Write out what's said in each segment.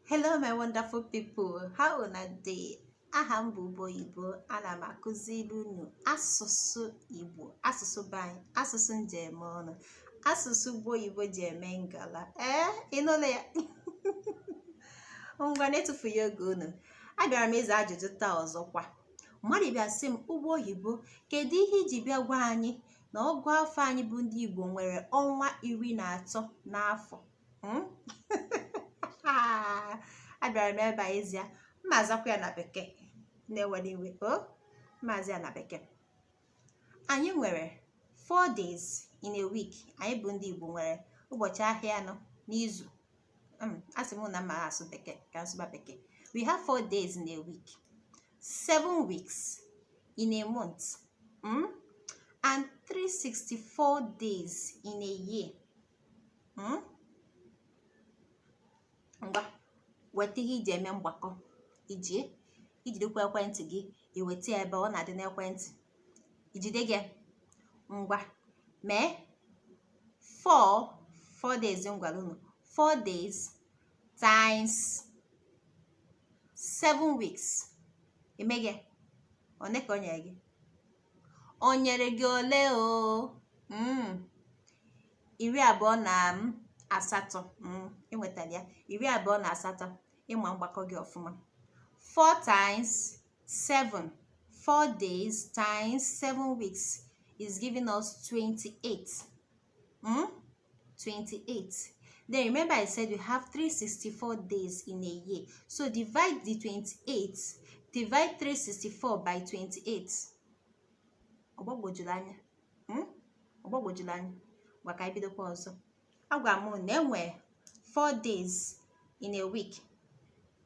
hello my wonderful people how una dey aha m bụ ụgbọ oyibo ana m akụziri unu asụsụ igbo asụsụ be anyị asụsụ m ji eme ọnụ asụsụ ụgbọ oyibo ji eme ngala ee eh, ịnụla ya ngwa na-etufughị oge unu abịara m ịza ajụjụ taa ọzọkwa mmadụ bịa sị m ụgbọ oyibo kedu ihe i ji bịa gwa anyị na ọgụ afọ anyị bụ ndị Igbo nwere ọnwa iri na atọ n'afọ hmm? abịara m ebe a ịza ya m ma-azakwa ya na bekee unu ewela iwe o oh, m ma-aza ya na bekee anyị nwere four days in a week anyị bụ ndị Igbo nwere ụbọchị ahịa anọ n'izu hmm, asị m na m ma-asụ bekee ka m sụba bekee we have four days in a week seven weeks in a month mm? and 364 days in a year hmm? ngwa weta ihe i ji eme mgbakọ i ji i jidekwa ekwentị gị i weta ya ebe ọ na-adị n'ekwentị i jide gị ngwa mee 4 4 days m gwara unu 4 days times 7 weeks eme gị one ka o nyere gị o nyere gị ole o mm. iri abụọ na mm, asatọ mm, i nwetara ya iri abụọ na asatọ ị ma mgbakọ gị ọfụma 4 times 7 4 days times 7 weeks is giving us 28 Hmm? 28. Then remember I said we have 364 days in a year. So divide the 28, divide 364 by 28. Ọ gbagwojuru anya. Hmm? Ọ gbagwojuru anya. Ngwa ka anyị bidokwa ọzọ. Agwa m na e nwe 4 days in a week.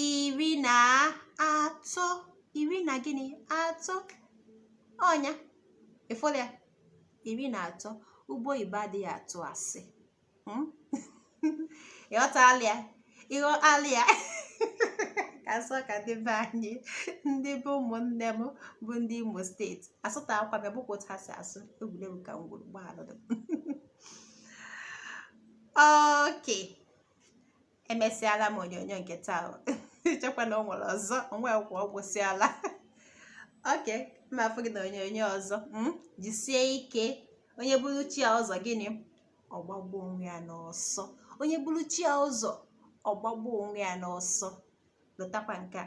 iri na atọ iri na gịnị atọ ọ nya ịfụla ya iri na atọ ụgbọ oyibo adịghị atụ asị hmm? ịghọtala ya ịghọtala ya ka m sụọ ka ndị be anyị ndị be ụmụnne m bụ ndị imo steeti asụtakwa m ya ọ bụkwa otu ha si asụ egwuregwu ka m gwuru gbaalụ okay emesịala m onyonyo nke taa i chekwa na o nwere ọzọ o nwekwa ọ gwụsịala okay m ma-afụ gị na onyonyo ọzọ hmm? jisie ike onye buru chi ya ụzọ gịnị ọ gbagbuo onwe ya n'ọsọ onye buru chi ya ụzọ ọ gbagbuo onwe ya n'ọsọ lotakwa nke a